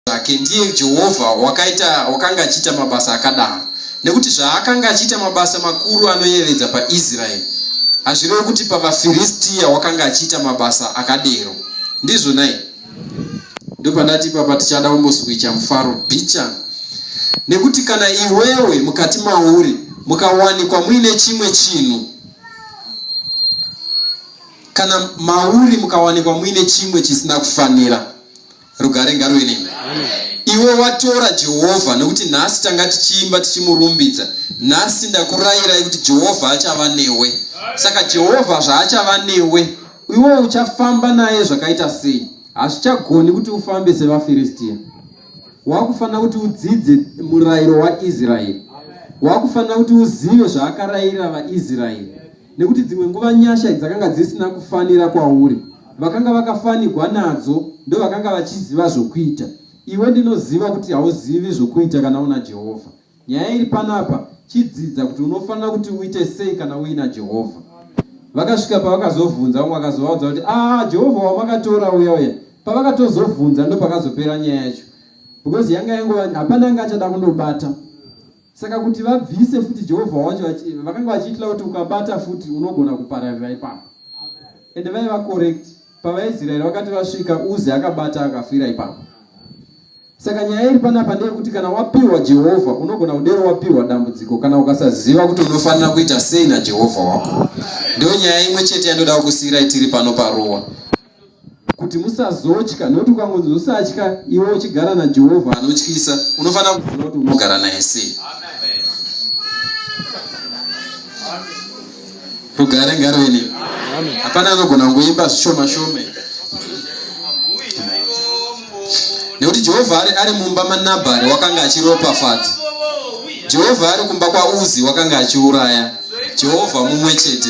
zvake ndiye jehovha wakaita wakanga achiita mabasa akadaro nekuti zvaakanga achiita mabasa makuru anoyevedza paisraeri hazvirevi kuti pavafiristiya wakanga achiita mabasa akadero ndizvo nai ndopandati ipapa tichada kumboswicha mufaro bicha nekuti kana iwewe mukati mauri mukawanikwa muine chimwe chinhu kana mauri mukawanikwa muine chimwe chisina kufanira rugare ngaruve nemi iwe watora jehovha nokuti nhasi tanga tichiimba tichimurumbidza nhasi ndakurayirai kuti jehovha achava newe saka jehovha zvaachava newe iwe uchafamba naye zvakaita sei hazvichagoni kuti ufambe sevafiristiya wakufanira kuti udzidze murayiro waisraeri wakufanira kuti uzive zvaakarayira vaisraeri nekuti dzimwe nguva nyasha dzakanga dzisina kufanira kwauri vakanga vakafanigwa nadzo ndovakanga vachiziva zvokuita iwe ndinoziva kuti hauzivi zvokuita kana una jehovha nyaya iri panapa chidzidza kuti unofanira kuti uite sei kana uina jehovha vakasvika pavakazovhunza vamwe vakazovaudza kuti aa ah, jehovha wamakatora uya uya pavakatozovhunza ndopakazopera nyaya yacho because yanga yangova hapana anga achada kundobata Saka kuti vabvise futi Jehovha wacho vakanga vachiitira kuti ukabata futi unogona kupararira ipapo. Ende vaiva correct pavaIsraeri vakati vasvika Uzi akabata akafira ipapo. Saka nyaya iri panapa ndeyekuti kana wapiwa Jehovha unogona kudero wapiwa dambudziko kana ukasaziva kuti unofanira kuita sei naJehovha wako. Ndiyo nyaya imwe chete yandoda kukusiirai tiri pano parowa. kuti musazotya nokuti ukangonzi usatya iwe uchigara najehovha anotyisa unofanira kuziva kuti unogara naye sei rugare ngarweni hapana anogona kungoimba zvishoma shome nekuti jehovha ari, ari mumba manabhari wakanga achiropafadza jehovha ari kumba kwauzi wakanga achiuraya jehovha mumwe chete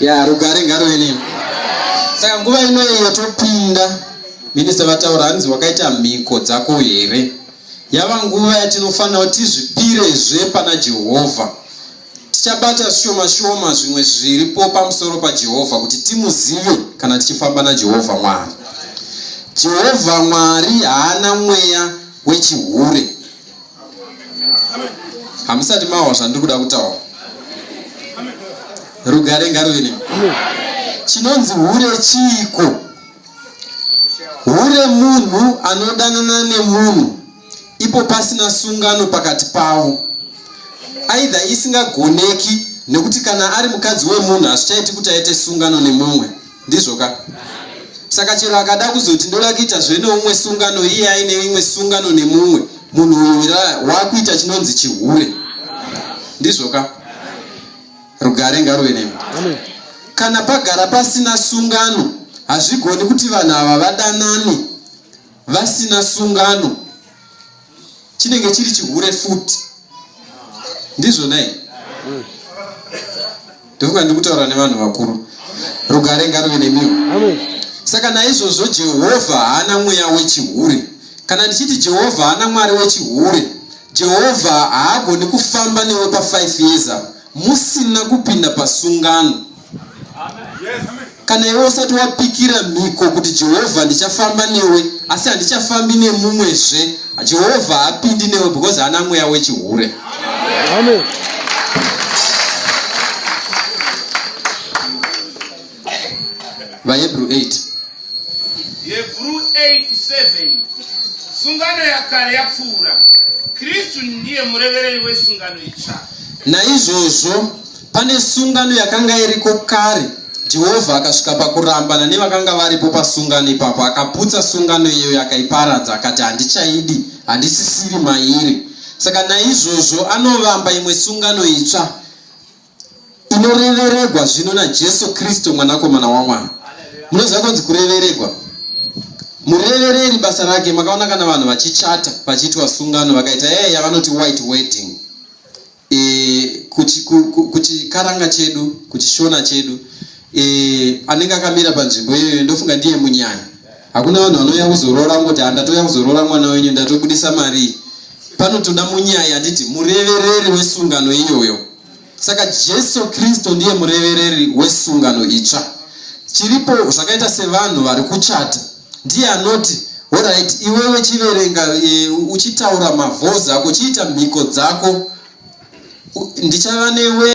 ya rugare ngaruve nemi saka nguva ino iyo topinda minista vataura hanzi wakaita mhiko dzako here yava nguva yatinofanira kuti tizvipirezve pana jehovha tichabata shoma shoma zvimwe zviripo pamusoro pajehovha kuti timuzive kana tichifamba najehovha mwari jehovha mwari haana mweya wechihure hamusati mawa zvandiri kuda kutaura rugare ngaruve nemi chinonzi hure chiiko hure munhu anodanana nemunhu ipo pasina sungano pakati pavo aidha isingagoneki nekuti kana ari mukadzi wemunhu hazvichaiti kuti aite sungano nemumwe ndizvo ka saka chero akada kuzoti ndoda kuita zve neumwe sungano iye aine imwe sungano nemumwe munhu uyu wakuita chinonzi chihure ndizvo ka rugare ngaruve nemi kana pagara pasina sungano hazvigoni kuti vanhu ava vadanane vasina sungano chinenge chiri chihure futi ndizvo nei ndofunga ndikutaura nevanhu vakuru rugare ngaruve nemiwo saka naizvozvo jehovha haana mweya wechihure kana ndichiti jehovha haana mwari wechihure jehovha haagoni kufamba newe pa5 years apo musina kupinda pasungano Kana iwe usati wapikira mhiko kuti Jehovha ndichafamba newe asi handichafambi nemumwezve, Jehovha haapindi newe because haana mweya wechihure. Amen. VaHebrew 8. Hebrew 8:7 Sungano yakare yapfuura, Kristu ndiye murevereri wesungano itsva. Naizvozvo Pane sungano yakanga iriko kare, Jehovha akasvika pakurambana nevakanga varipo pasungano ipapo. Akaputsa sungano iyoyo, akaiparadza, akati, Handichaidi, handisisiri mairi. Saka naizvozvo anovamba imwe sungano itsva inoreveregwa zvino naJesu Kristu, Mwanakomana waMwari. Munoziva kunzi kureveregwa? Murevereri basa rake, makaona kana vanhu vachichata, vachiitwa sungano, vakaita yaya yavanoti white wedding. e, kuchikaranga chedu kuchishona chedu e, anenge akamira panzvimbo iyoyo ndofunga ndiye munyaya hakuna vanhu vanouya kuzoroora ngoti handatoya kuzoroora mwana wenyu ndatobudisa marii panotoda munyaya handiti murevereri wesungano iyoyo saka jesu kristu ndiye murevereri wesungano itsva chiripo zvakaita sevanhu vari kuchata ndiye anoti horait iwewe chiverenga e, uchitaura mavhozi ako chiita mhiko dzako ndichava newe